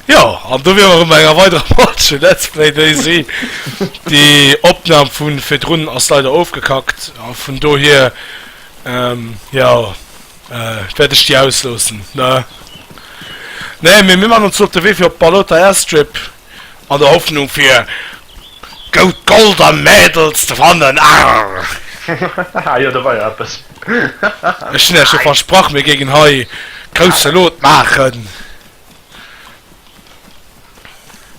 Jo, an do wier mer erëm bei enger weiderer Page vu Let's Play Daisy. Déi Opnam vu virdrun ass leider ofgekackt a vun dohier, jo, wäert ech déi ausloossen, ne? Nee, mee mir maachen ons elo op de Wee fir op d'Balota Airstrip. an der Hoffnung fir goud Gold an Mädels ze fannen, arr. Jo, do war jo eppes. Ech hunn Iech jo versprach, mir géingen hei grousse Lot maachen.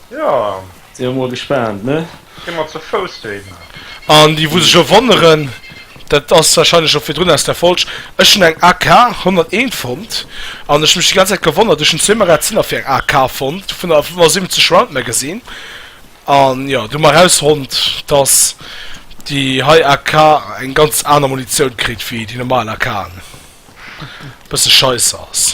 Jo. Sinn mer mol gespaant, ne? Gi mer ze Fouss dohinner. An déi wou sech elo wonneren, dat ass warscheinlech scho virdrun aus der Folg, ech hunn eng AK 101 fonnt an ech hunn mech déi ganz Zäit gewonnert, ech hunn zwee Magaziner fir eng AK fonnt vun der 75 Round Magazine an jo, du hunn mer erausfonnt, dass déi hei AK eng ganz aner Munitioun kritt wéi déi normal AKen, e bësse scheisse ass.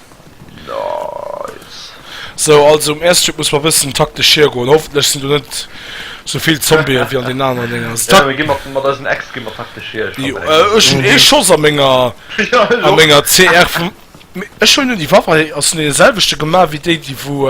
Nice. Sou, also um Airstrip muss mer bëssen taktesch hiergoen. Hoffentlech sinn do net sou vill Zombien wéi an den aneren Dénger. Also tak. Ja, mir ginn mat, mat eisen Äxte ginn mer taktesch hier. Jo, äh, ech hunn ee Schoss a menger, a menger CR vum. Mee ech hunn un déi Waff, ass un deene selwechte gemaach wéi déi, déi wou,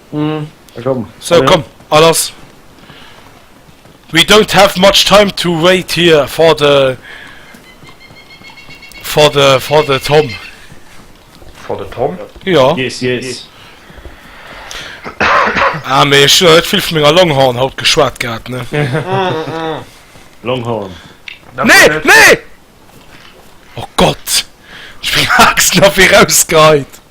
So komm a lass! We don't have much time to wait here for the for the for the Tom. For the Tom? Jo. Yes, yes. Ah mee ech hunn net vill vun menger Longhorn haut geschwat gehat ne. Longhorn. Nee! Nee! Oh Gott! Ech hunn Axt nach wéi rausgeheit!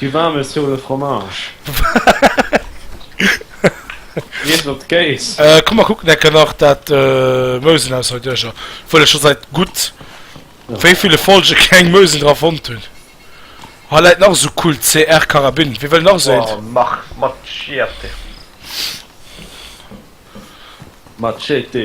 Du war me sur le fromage. Komm mer kucken enke nach dat Meuselhaushalt duercher, obwuel ech scho seit gutt wéi ville Folge keng Meusel dra fonnt hunn. Hei läit nach esou Kult CR Carabine. Wie wëll nach esou eent? Machete.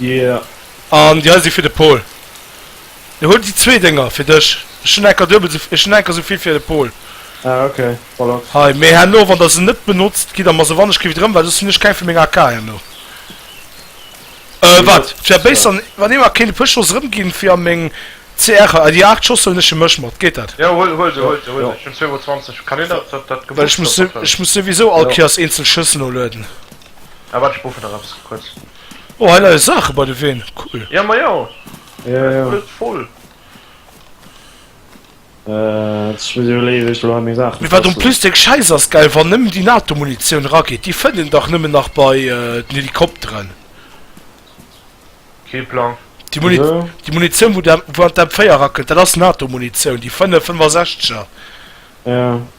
Yeah. An déi hei si fir de Pol. Jo, huel déi zwee Dénger fir dech. Ech hunn enker duebel esou, ech hunn enker esou vill fir de Pol. Ah, ok, voilà. Hei, mee herno, wann der se net benotzt, gitt der mer se wannechginn wieder erëm, well soss hunn ech keng vun menger AK herno. Äh, wat? D'wär béiss, wann ee mer kéint e puer Schoss erëmginn fir a meng CR. Hei, déi 8 Schoss huelen ech fir mech mat. Geet dat? Jo, huel, huel se, huel se, huel se. Ech hunn 2 mol 20. Kann een dat, dat, dat Gebuchs do mat. Well ech muss souwisou all Kéiers eenzel Schëss nolueden. Ah waart ech broofen nach eppes kuerz. Oh hei leie Saache bei de Ween, cool! Ja majo, et ass alles voll. Ech muss iwwerleeën wéi ech do hei meng Saachen. Mee wat en plus deng Schäiss ass gell, wann nëmmen déi Nato Munitioun erageet, déi fënnt een dach nëmmen nach bei den Helikopteren. Kee Plang. Déi Munitioun wou an d'M4 erakennt, dat ass Nato Munitioun, déi 5, 65er. Jo.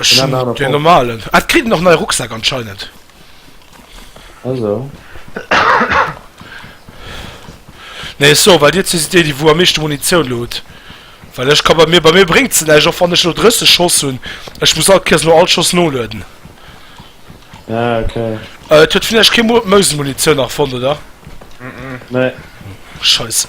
Ech hun den normalen. Ah et kritt een och nei Rucksäck anscheinend. Ah sou. Nee ech soe well dir zwee sidd déi déi wou am meeschte Munitioun lo hutt. Well ech ka bei mir bei mir bréngt se näischt och wann ech lo 30 Schoss hunn. Ech muss all Kéiers no all Schoss nolueden. Ah ok. Et huet vläicht kee Mo Mousen Munitioun nach fonnt oder? Nee. Scheisse.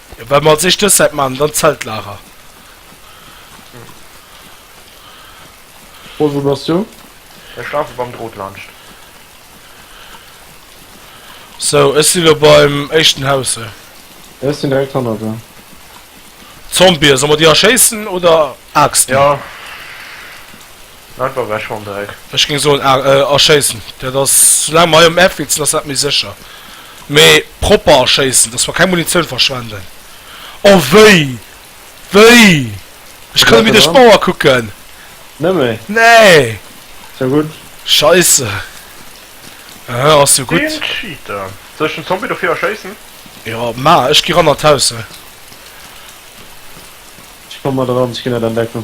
Ja, well mer als éischt dës Säit maachen, dann d'Zeltlager. Rose, wou bass du? Ech lafe beim Drot laanscht. Sou, ech si lo beim éischten Haus, sou. Ja, ech sinn direkt hannert der. Zombie, solle mer déi erschéissen oder Aaxten? Ja. Wat war bei Schondreck? Ech géing soen a erschéissen. Dat ass, soulaang mer hei um F witzen, ass dat méi sécher. Mee propper erschéissen, dass mer keng Munitioun verschwenden. Oh wéi! Wéi! Ech kann net méi duerch d'Mauer kucken! Net méi? Nee! Ass jo gutt. Scheisse. Aha, ass jo gutt. Deen Cheater! Soll ech den Zombie dofir erschéissen? Jo, maachen. Ech gi ran an d'Haus, hei. Ech komme mat eran, ech ginn et entdecken.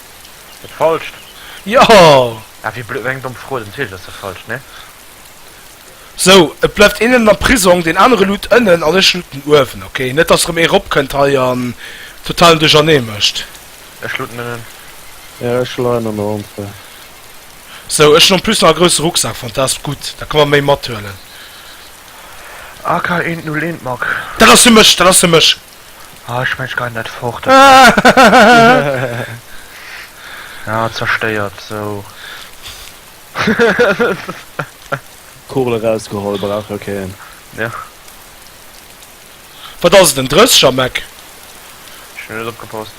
Et falscht. Jo! Ah wéi blöd, eng domm Fro, den zweeten ass dach falsch, ne? Sou, et bleift een ënnen am Prisong, deen anere luut ënnen an ech luuten uewen, ok? Net dass erëm ee eropkënnt hei an totalen Duerchernee mécht. Ech luuten ënnen. Ja, ech leien an der Entrée. Sou, ech hunn en plus nach e grousse Rucksak, fantasp, gutt, da ka mer méi mathuelen. AK 101 Mark. Dat ass fir mech, dat ass fir mech! Ah, ech mengen, ech geien dat fort. Ah, zerstéiert, sou. D'Kugel erausgeholl, brauch jo keen. Jo. Wat ass et, en Drësseger, Mec? Ech hunn net opgepasst.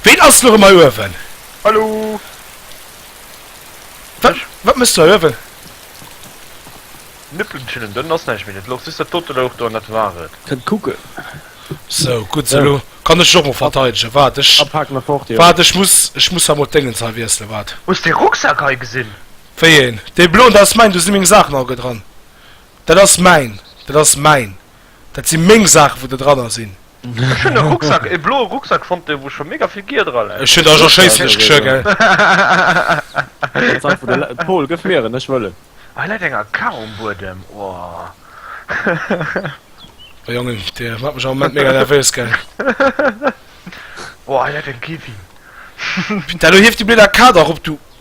Ween ass lo rëm hei uewen? Hallo! Wat, wat méchs du hei uewen? Nëppelen schillen, dann ass näischt méi net los, just dat dote louch do, an dat war et. Kënnt kucken. Sou, gutt, sou, elo kann ech et och mol verteidegen. Waart, ech, Da paken mer fort, jo. waart, ech muss, ech muss emol d'Déngens hei wiesselen, waart. Hues dee Rucksak hei gesinn? Wéi een? Dee bloen, dat ass mäin, do si meng Saachen all gedran. Dat ass mäin, dat ass mäin. Dat si meng Saachen, wou der dranner sinn. Ech hunn e Rucksack, e bloe Rucksack fonnt, wou scho mega vill Gear dra läit. Ech hunn der scho schéisslech geschwë, gell. Pol, gëff mir en, ech wëll en. Hei läit eng AK um Buedem, oh. Oh Jongen, Dir maacht mech am Moment mega nervös, gell. Oh, hei läit eng Kevin. Putain, elo hieft déi blöd AK da rop, du.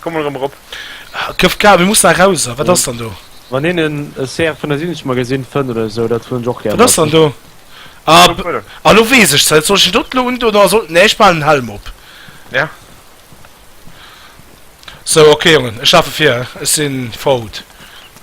Komm mol erëm erop. Këf kal, mir mussen erauser. Wat ass dann do? Wann een en CR 75 mol gesinn fënn oder esou, dat wëll ech och gär. Wat ass dann do? Ah, elo weess ech se. Soll ech en doten elo undoen oder soll. Nee, ech behalen den Helm op. Ja. Sou, ok Jongen, ech lafe vir. Ech si fort.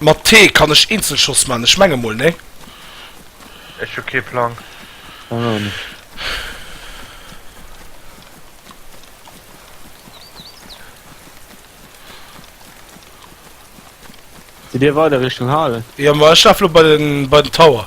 Mat T kann ech Eenzelschoss man, ech menge mol nee. Ech hu kee Plang. Ech och net. Sidd dir weider Richtung Hale? Jo ma ech laf lo bei den Tower.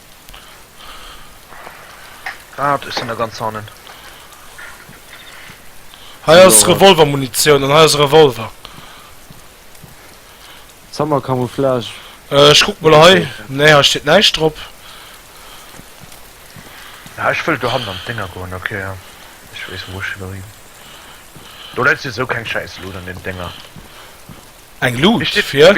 Waat? Ech sin da ganz hannen. Hei ass Revolvermunitioun an hei ass e Revolver. Summer Camouflage. Ech kuck mol hei. Nee, hei steet näischt drop. Ja, ech wëll dohannen an d'Dénger goen. Ok, ja. Ech weess, wou ech wëll hin. Do läit souwisou keng Schäiss Loot an den Dénger. Eng Loot? Fir?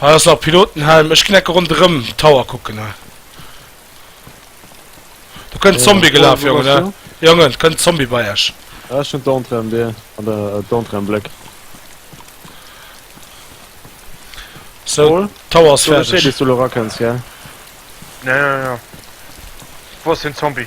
Hei ass nach Pilotenhelm. Ech gin ecke ronderem Tower kucken hei. Do kënnt en Zombie gelaf Jongen he. Jongen et kënnt en Zombie bei iech. Ah ech hun d'Entrée am Dier an der d'Entrée am Bleck. So d'Tower ass färdeg. Ech wos den Zombie.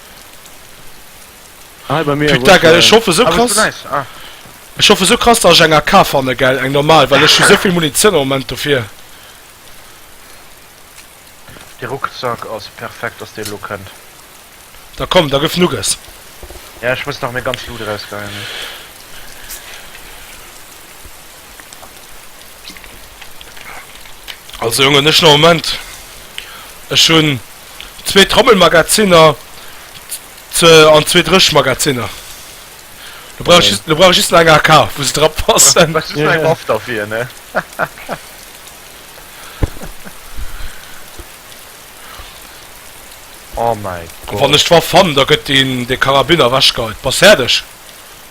Hi bei mir Putain gell ech hoffe sou krass Ech hoffe sou krass dass ech eng AK fanne gell eng normal well ech hu souvill Munitioun am Moment dofir. De Ruckzack ass perfekt dass deen elo kënnt. Da komm da gëff Nuggess. Ja ech muss nach meng ganz Loot erausgeien. Also Jongen, ech no Moment, ech hunn zwee Trommelmagaziner ze an zwee Dréchmagaziner. Do brauch ech, do brauch ech just nach eng AK, wou se dra passen. Brauchst just nach eng Waff derfir, ne? Oh mäi Gott! Wann ech d'Waff fannen, da gëtt deen, dee Karabiner ewechgeheit. Bass fäerdeg!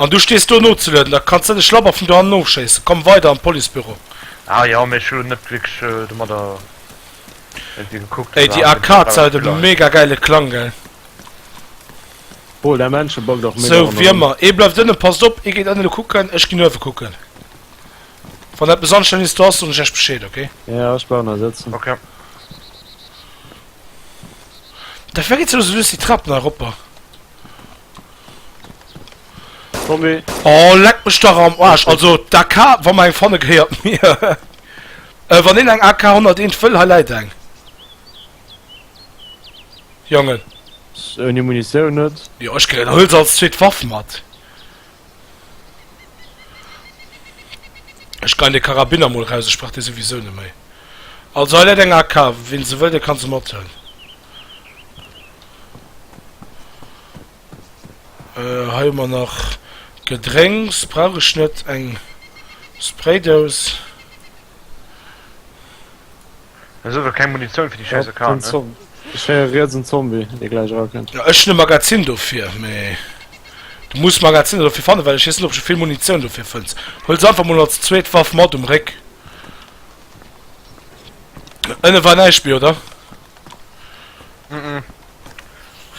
An du stees do nozelueden, da kanns de de Schlabber vun dohannen ofschéissen. Komm weider an d'Policebüro. Ah jo, mee ech hu net wierklech domadder iergendwéi gekuckt. Ey, déi Arcade hat e mega gäile Klang, gell? Paul, däi Männchen backt och mega ronderëm. Sou, wéi ëmmer. Ee bleift ënnen. Passt op, ee geet ënnen kucken, ech ginn uewen kucken. Wann eppes anstänneges do ass, soen ech iech Bescheed, ok? Jo, ech bleiwen hei sëtzen. Ok. Da fir geet soss lues déi Trap nach eropper. Tommy. Oh, leck mech dach am Arsch. Also, d'AK, wa mer eng fanne, gehéiert mir. Äh, wann een eng AK 101 wëll, hei läit eng. Jongen. S, Ouni Munitioun net. Jo, ech kritt, huel se als zweet Waff mat. Ech gein de Karabiner mol raus, ech brauch dee souwisou net méi. Also hei läit eng AK, ween se wëll, dee kann se mat huelen. Hei hu mer nach Gedrénks, brauch ech net. Eng Spraydous. Ech hu keng Munitioun fir déi scheiss AK, ne? Ech héier riets en Zombie, dee gläich erakënnt. Ech hunn e Magazin dofir, mee du muss d'Magaziner dofir fannen, well ech weess net, ob du vill Munitioun dofir fënns. Huel se einfach mol als zweet Waff mat um Réck. Ënne war näischt méi, oder?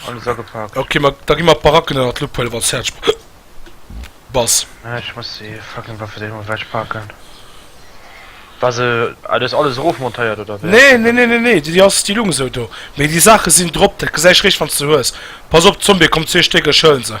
Alles agepakt. Ok, da gi mer d'Baracken ënnert d'Lupp huelen, wann s fäerdeg bass. Ech muss déi fucking Waffedéi mol ewechpaken. War se. Ah, du hues alles erofmontéiert, oder wéi? Nee, nee, nee, nee, nee, déi ass. Déi lugen esou do. Mee déi Saache sinn drop, dat gesäis eréischt, wann s se hues. Pass op, Zombie, komm, zwee Stéck, ech huelen se.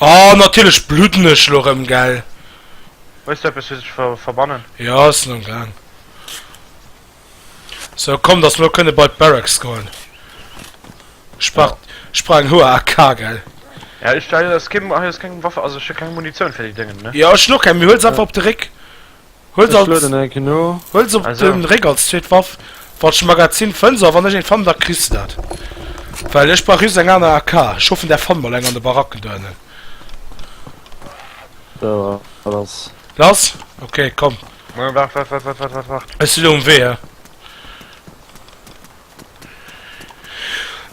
Oh natierlech bludden ech elo rëm gell. Hues du eppes fir sech ver verbannen? Jo sinn am gaang. Sou komm dass mer elo kënne bei d'Barracks goen. Ech brauch ech brauch eng hoher AK gell. Ja ech hei ass kee hei ass keng Waffe also ech hu keng Munitioun fir déi Déngen ne. Jo ech hu och keng mee huel se einfach op de Réck. Huel se op den Réck als zweet Waff wann ech e Magazin fënns a wann ech een fann da kriss de dat well ech brauch just eng aner AK. Ech hoffen der fannt mol eng an de Baracken do ennen. Lass? Ok komm ech si lo um Wee eh.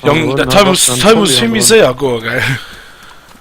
Jong dat hei muss hei muss vill méi séier goe gell.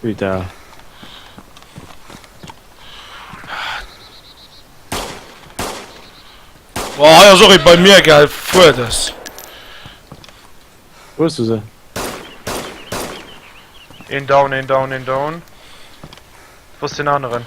Putain. Boah, hei ass och ee bei mir, gell? Fuer des. Wou hues du se? Een down, een down, een down. Wou ass den aneren?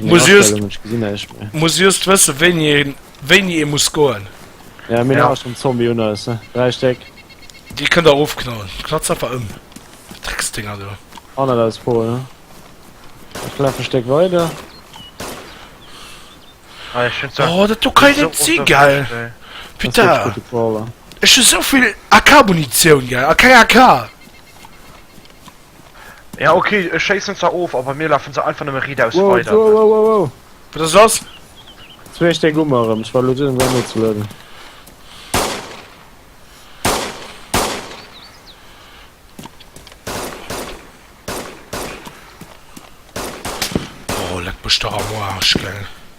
Muss just, muss just wësse wéini wéini e muss goen. Ja mir ja. schon Zombie un ass 3 Steck. Di kënnt der ofknallen. Knatz einfach ëm. Drecksdinger do. An der aus Pol ne. Ich laf e Steck weiter. Ah, ich find oh, dat du kann net si geil. Peter. Ech hu sovill AK-Munition ge a keng AK. Ja ok, ech schéissen zwar of, a bei mir lafen se einfach nëmme ridaus weider. Wow, wow, wow, wow, wow. Wat ass lass? Jetzt méch deng Ummer erem, ech war lo dun em Game ze loaden. Oh leck mech dach am Arsch gell.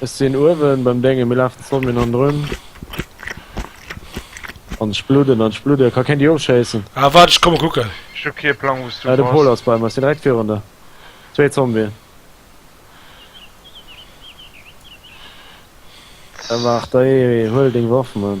Ech sinn uewen beim Dengen, mir lafen zwou Min anrun. An ech bludden an ech bludden, ka keen déi ofschéissen. Ah waart ech komme kucken. Ech hu kee Plang wous du bass. Ah de Pol ass bei mer, ech sinn direkt virun der. Zwee Zombien. Ewart, dei huel deng Waff man.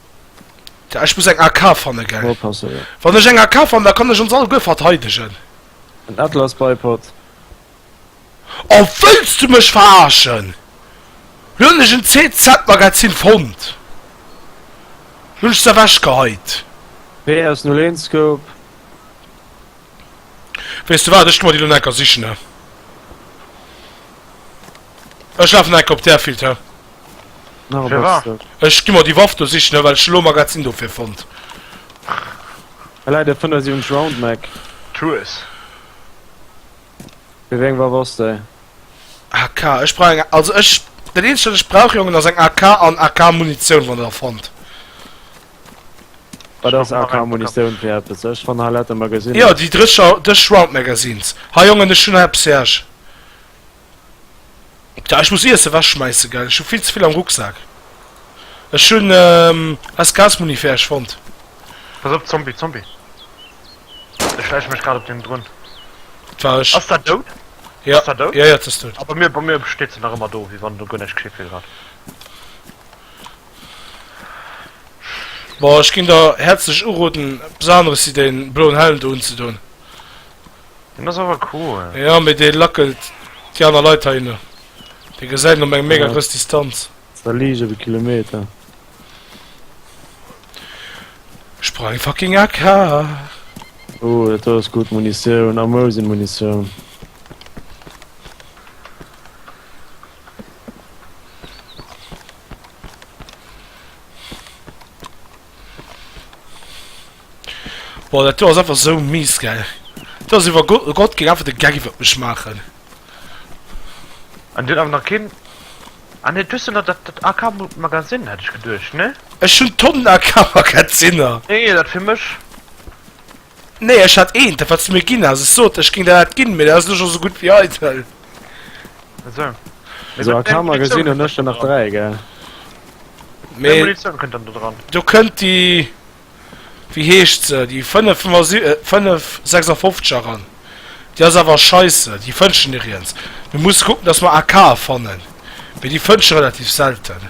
Ech muss eng AK fanne gell? Mol passen jo. Wann ech eng AK fann da kann ech ons all guer verteidegen. En Atlas Bipod. Oh wëlls du mech verarschen? Lo hunn ech en CZ Magazin fonnt. Lo hunn ech se ewech geheit. PS null een Scope. Weess du wat ech gi mer déi lo necker sichne. Ech lafen enke op där Field hir. Nach e Firwat? Bastard. Ech gi mer déi Waff do sichen, well ech elo Magazin dofir fonnt. Hei läit e Fënnersiungs-Round Mac. Tues. Fir wéi eng Waff ass déi? AK, ech brauch eng, also ech, dat eenzegt wat ech brauch Jongen ass eng AK an AK Munitioun wann der der fonnt. Wat ass AK Munitioun fir eppes? Ech fann hei late Magaziner. Jo déi drëscher, drësch Round Magazines. Hei Jongen ech hunn hei eppes fir iech. Ah, ech muss Iesse wechschmeissen, gell? Ech hu vill ze vill am Rucksak. Ech hunn eis Gasmuni fir Äech fonnt. Pass op, Zombie, Zombie! Ech schläiche mech grad op deen drun. Et war ech. Ass dat dout? Jo. Ass dat dout? Jo, jo, et ass dout. Ah, bei mir, bei mir steet se nach ëmmer do, wéi wann do guer näischt geschitt wier grad. Bon, ech ginn der häerzlech uroden, eppes aneres wéi dee bloen Helm do unzedoen. Den ass awer cool. Jo mee dee lackelt déi aner Leit heihinner. Dee gesäit en op eng mega grouss Distanz. War liicht op e Kilometer. Sprang fucking AK. Oh dat do ass gutt Munitioun. Amou sinn Munitioun. Boah, dat do ass einfach sou mies, gell. Do ass iwwer Go Gott géing einfach de Gag iwwer mech maachen. An déi huet awer nach keen. Ah nee, du hues jo nach dat dat AK Mo Magazine, hat ech geduecht, ne? Ech hunn Tonnen AK Magazinner. Nee, dat fir mech. Nee, ech hat eent, dat wat s de mir ginn has. Ech sot der, ech géing der dat ginn, mee dat ass elo scho sou gutt wéi eidel. So. Also a Kammer gesinn hun ech der nach 3 gell. Mee Munition kënnt dann do dran. Do kënnt déi, wéi heescht se, déi 5 556 eran. Déi ass awer scheisse, déi fënnt ech nirriens. Mir musse kucken, dass mer AKe fannen, mee déi fënnt ech relativ selten.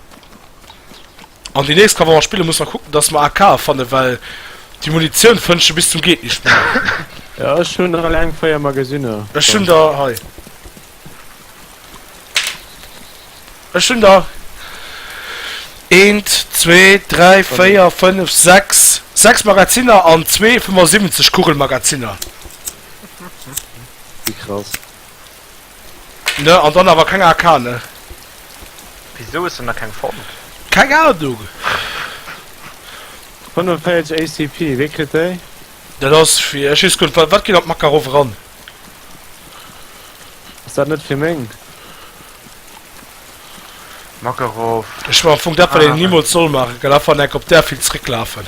An déi nächst Kamera spillen muss mer kucken dass mer AKe fannen well déi Munitioun fënnt sche bis zum geet nischt méi. Jo ech hun der eleng 4 Magasinner. Ech hun der hei. Ech hun der eent zwee dräi véier fënnef sechs 6 Magazinner an zwee 75 Kugelmagazinner. Wie krass. Ne an dann awer keng AK ne. Wisou hues de nach keng fonnt? Keng Ahnung! 45 ACP, wee kritt déi? Dat ass fir ech wees guer net wat geet an d'Makarov eran? Ass dat net fir meng? Makarov. Ech man am Fong dat wat een niemols soll machen, galafanenk op där vill zréck lafen.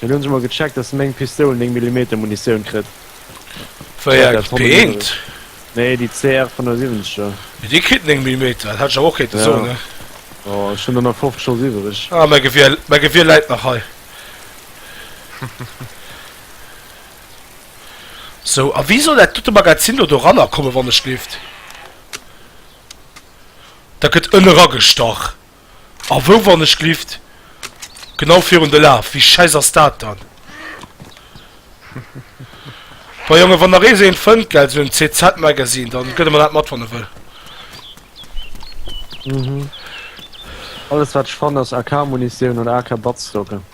Mir hunn scho mol gecheckt dass meng Pistoul 9 Millimeter Munitioun kritt. Wéier gëtt d'P1? Nee déi CR 75 er. Mee déi kritt 9 Millimeter, dat hat ech awer och kéinte soen ne? Jo ech hunn der nach 50 schonns iwwereg. Ah mäi Gewier, mäi Gewier läit nach hei. Sou a wéi soll dat dote Magazin do doranner kommen wann ech lift? Dat gëtt ënne ragestach. A wou, wann ech glift? Genau virun de Laf. Wéi schäiss ass dat dann? Bei Jongen, wann nach eens een fënnt, gell, sou en CZ Magazine, dann gëtt e mer dat mat, wann e wëll. Alles wat ech fannen ass AK Munitioun oder AK Batzstocke.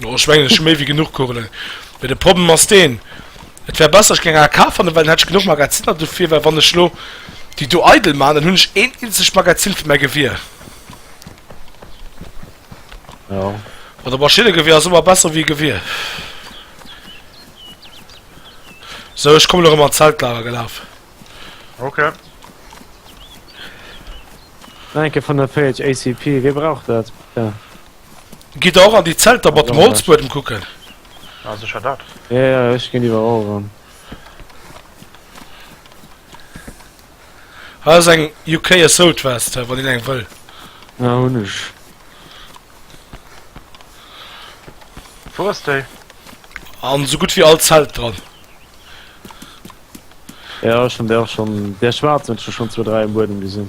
No, ech mengen ech hu méi wéi genuch Kugelen. Mee de Problem ass deen, et wär besser ech géing aer kafen, well dann hätt ech genuch Magazinner dofir, well wann ech elo déi do eidel man, dann hunn ech een eenzegt Magazin fir mäi Gewier. Jo. Oder Maschinnegewier ass ëmmer besser wéi e Gewier. Sou, ech kommen elo erëm an d'Zeltlager gelaf. Ok. Nach eng Kéier vun der Page, ACP, wie brauch dat? Gidd der och an déi Zelter mat dem Holzbuedem kucken? Ah secher dat. Ja ja ech gin iwerall ran. Hei ass eng UK Assault Vest hei wann een eng wëll. Ja hun ech. Wou ass déi? An sou gutt wéi all Zelt dran. Ja ech hun där och schon, där schwaarz hun ech der schon zwou dräi um Buedem gesin.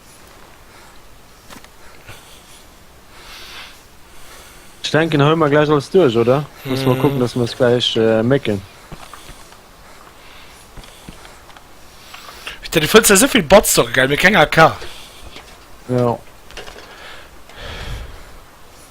Ich denken hol mal gleich alles durch, oder? Muss mal gucken, dass wir es gleich äh, mecken. Du findst ja so viel Bots doch geil, mir kennen AK. Ja.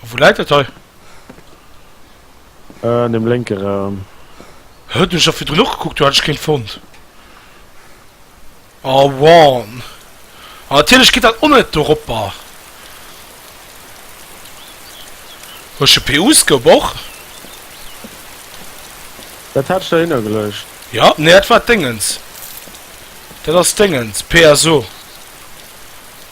Wou läit dat hei? Äh, an dem lénke Raum. Hä, do hu ech dach virdrun och gekuckt, do hat ech keen fonnt. A one. A natierlech geet dat och net doropper. Hu ech e PU-Scope och? Dat hat ech dohinner geluecht. Ja, nee, dat war d'Déngens. Dat ass d'Déngens, PSO.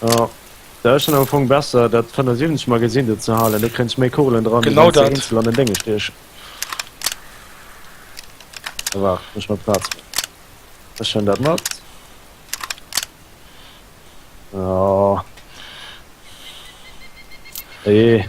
Oh. Da schon am Fong besser dat 75 mal gesinn dat ze halen, da kre ich méi Kugelen dran genau dat an den Dinge stech mal Platz schon dat mat oh. Hey.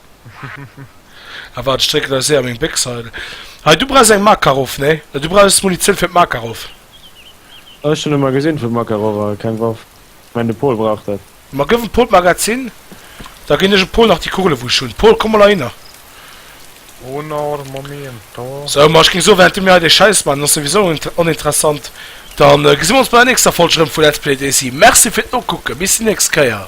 Ah waart, ech drécken eis séier meng Béchs hei. Hei, du brauchs eng Makarov, nee? Du brauchs Munitioun fir d'Makarov. Ech hunn emmer gesinn, vu Makarov a keng Waff. Ech mengen, de Pol brauch dat. Ma gëff em Pol d'Magazin, da ginn ech em Pol nach déi Kugele wou ech hunn. Pol, komm mol heihinner. Sou, ma ech géing soen, wärend du mir hei dee Schäiss maachen, ass souwisou oninteressant, da gesi mir ons bei der nächster Folg erëm vu Let's Play DayZ. Merci fir d'Nokucken, bis déi nächst Kéier!